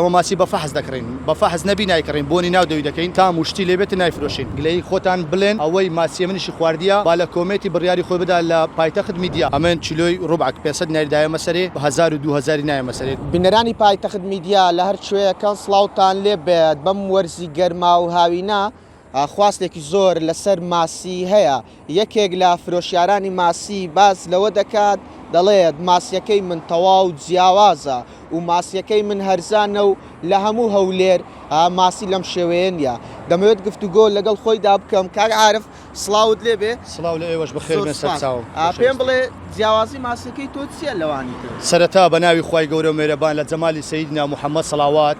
ئێمە ماسی بە فەحس دەکڕین بە فەحس نەبی نایکڕین بۆنی ناو دەوی دەکەین تام و شتی لێبێت نایفرۆشین گلەیی خۆتان بلێن ئەوەی ماسیە منیشی خواردیە با لە کۆمێتی بریاری خۆی بدا لە پایتەخت میدیا ئەمن کیلۆی روبعک پێست نەری دایەمە سەرێ بە هەزار و دوو هەزاری نایەمە سەرێ. بینەرانی پایتەخت میدیا لە هەر کوێیەکەن سڵاوتان لێبێت بەم وەرزی گەرما و هاوینە، خواستێکی زۆر لەسەر ماسی هەیە، یەکێک لە فرۆشیارانی ماسی باس لەوە دەکات، دەڵێت، ماسییەکەی من تەواو جیاوازە و ماسییەکەی من هەرزانە و لە هەموو هەولێر ماسی لەم شێوەیە نییە، دەمەوێت گفتوگۆ لەگەڵ خۆیدا بکەم. کاک عارف سڵاوت لێ بێ. سڵاو لە ئێوەش، بەخێر بێن سەرچاوم. پێم بڵێ جیاوازی ماسییەکەی تۆ چییە لەوانی تر؟ سەرەتا بە ناوی خوای گەورە و مێرەبان لە جەمالی سەیدنا محەمەد سەڵاوات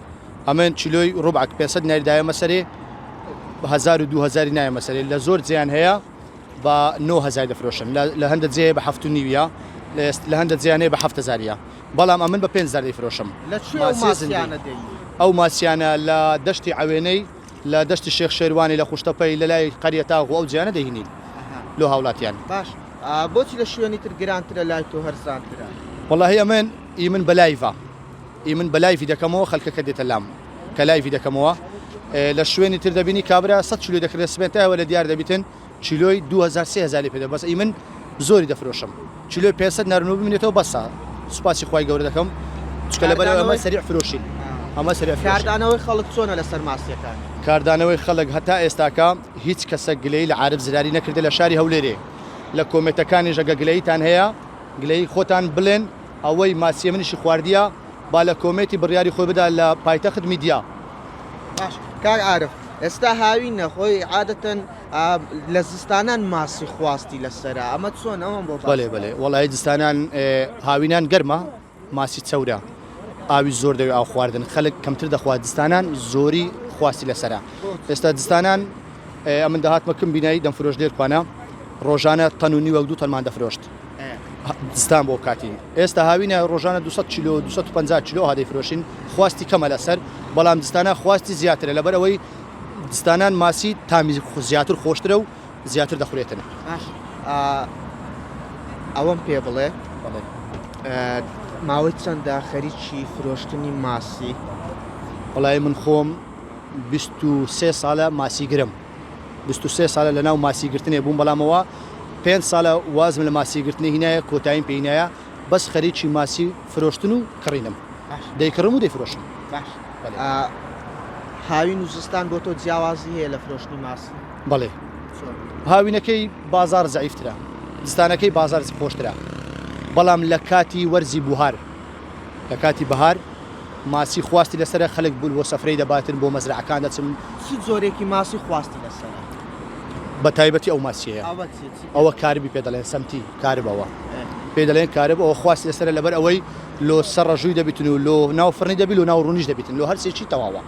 ئەمن چلۆی ڕوبعەک پێسەد ناری دایەمە سەرێ هزار و دو هزاری نایەمە سەرێ لە زۆر جیان هەیە بە نۆ هزار دەفرۆشن لە هەندە جێ بە هەفت و نیویە لە هەندە جیانێ بە هەفت هزاریە بەڵام ئەمن بە پێنج زاری فرۆشم لە ئەو ماسیانە لە دەشتی ئەوێنەی لە دەشتی شێخ شێروانی لە خوشتەپەی لە لای قەریە تاغ و ئەو جیانە دەهینین لۆ هاوڵاتیان باش بۆچی لە شوێنی تر گرانترە لای تۆ هەرزانترە وڵی ئەمن ئی من بە لایڤە ی من بەلایڤی دەکەمەوە خەلکەکە دێتە لام کە لایڤی دەکەمەوە لە شوێنی تر دەبینی کابرا سەد کیلۆی دەکردە سبەین تا ئێوە لە دیار دەبیتن کیلۆی دوو هەزار سێ هەزاری پێ دەم بەس ی من زۆری دەفرۆشم کیلۆی پێنج سەد نەرنو بمینێتەوە بەسە سوپاسی خوای گەورە دەکەم چونکە لەبەر ئەوەی ئەمە سەریع فرۆشین ئەمە سەریع فرۆشین. کاردانەوەی خەڵک چۆنە لەسەر ماسیەکان؟ کاردانەوەی خەڵک هەتا ئێستاکە هیچ کەسەک گلەیی لە عارف زراری نەکردە لە شاری هەولێرێ لە کۆمێتەکانیش ئەگە گلەییتان هەیە گلەیی خۆتان بلێن ئەوەی ماچیە منیشی خواردیە با لە کۆمێتی بڕیاری خۆی بدا لە پایتەخت میدیا. باش کاک عارف ئێستا هاوینە خۆی عادەتەن لە زستانان ماسی خواستی لەسرە ئەمە چۆن ئەوم بۆ بەێ بەێ وڵی زستانان هاوینان گەرمە ماسی چەورە ئاوی زۆر دەوێت ئاو خواردن خەلک کەمتر دەخوات دستانان زۆری خواستی لەسرە ئێستا دستانان ئەمن داهاتمەکەم بینایی دەمفرۆش لێرکوانە ڕۆژانە تەنونی وەک دوو تەنمان دەفرۆشت دزتان بۆ بکاتین ئێستا هاوینە ڕۆژانە 200 کیلو 250 کیلو هادەی فرۆشین خواستی کەمە لەسەر بەڵام دستانە خواستی زیاترە لەبەر ئەوەی دستانان ماسی تامی زیاتر خۆشترە و زیاتر دەخورێتن ئەوەم پێ بڵێ ماوەی چەندە خەریکی فرۆشتنی ماسی بەڵای من خۆم سێ ساڵە ماسی گرم بیست و سێ سالە لەناو ماسی گرتنێ بووم بەڵام ئەوە پێنج سالە وازم لە ماسی گرتنی هینایە کۆتاییم پێی نایە بەس خەریکی ماسی فرۆشتن و کڕینم دەیکڕم و دەیفرۆشم باش هاوین و زستان بۆ تۆ جیاوازی هەیە لە فرۆشتنی ماسی بەڵێ هاوینەکەی بازار زعیفترە زستانەکەی بازار خۆشترە بەڵام لە کاتی وەرزی بوهار لە کاتی بەهار ماسی خواستی لەسەرە، خەلک بول بۆ سەفرەی دەباتن، بۆ مەزرەعەکان دەچن. چ جۆرێکی ماسی خواستی لەسەرە؟ بە تایبەتی ئەو ماسیەیە. ئەوە چیە؟ چی پێ ئەوە دەڵێن؟ کاربی پێ دەڵێن، سەمتی کارب ئەوە ئێ. پێی دەڵێن کارب، ئەوە خواستی لەسەرە لەبەر ئەوەی لۆ سە رژوی دەبیتن و لۆ ناو فڕنی دەبی لۆ ناو رونیش دەبیتن لۆ هەر سێ چی تەواوە.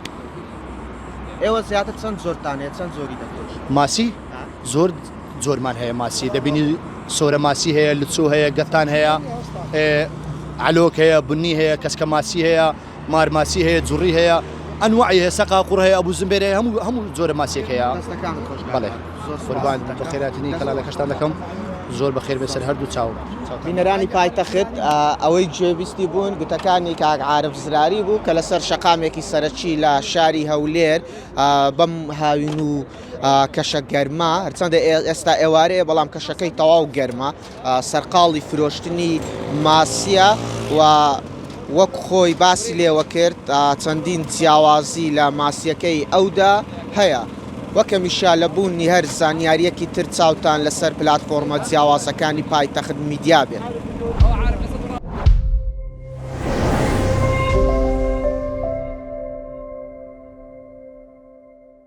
ئێوە زیاتر چەند جۆرتان هەیە چەند جۆری دەفرۆشن؟ ماسی؟ زۆر جۆرمان هەیە ماسی دەبینی سۆرە ماسی هەیە لچۆ هەیە گەتان هەیە علۆک هەیە بنی هەیە کەسکە ماسی هەیە مارماسی هەیە جوڕی هەیە ئەنوعی هەیە سەقا قوڕ هەیە ئەبوو زمبێرە هەموو هەموو جۆرە ماسیێک هەیە بەڵێ قوربان بەخێراتنی کەلالەکەشتان دەکەم زۆر بەخێر بێسەر هەردوو چاو بینەرانی پایتەخت ئەوەی گوێویستی بوون گوتەکانی کاک عاعرف زراری بوو کە لەسەر شەقامێکی سەرەکی لە شاری هەولێر بەم هاوین و کەشە گەرمە هەرچەندە ئێستا ئێوارەیە بەڵام کەشەکەی تەواو گەرمە سەرقاڵی فرۆشتنی ماسیە و وەک خۆی باسی لێوە کرد چەندین جیاوازی لە ماسیەکەی ئەودا هەیە وەکە میشا لە بوونی هەر زانیاریەکی تر چاوتان لەسەر پلتفۆرمە جیاوازەکانی پایتەخت میدیا بێت.